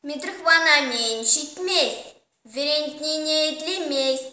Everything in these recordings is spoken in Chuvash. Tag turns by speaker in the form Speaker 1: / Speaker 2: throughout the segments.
Speaker 1: Митрихвана мӗн ҫитмест, вӗрентнине итлемест.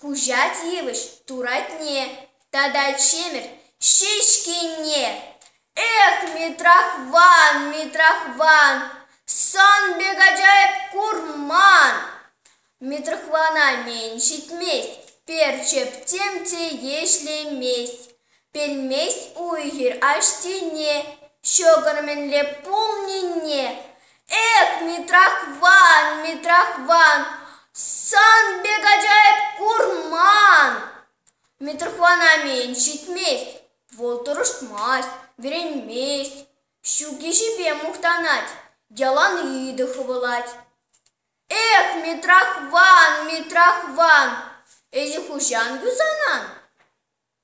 Speaker 1: Хуҫа тивӗҫ туратне тата чемер ҫеҫкине эх, Митрахван, Митрахван, сан пек аджайӑп курман. Митрахвана мӗн ҫитмест, перчептем те ешлемест. Пӗлмест уй-хир аҫтине ҫӑкӑр мӗнле пулнине. Эп Митрахван, Митрахван, сан пек аджайӑп курман. Митрахван амен, ҫитмест, вӑл тӑрӑшмасть, вӗренмест, ҫук ӗҫӗпе мухтанать, яланхи хӑвӑлать. Эх, Митрахван, Митрахван, ӗҫӗ хӑҫан юсанан?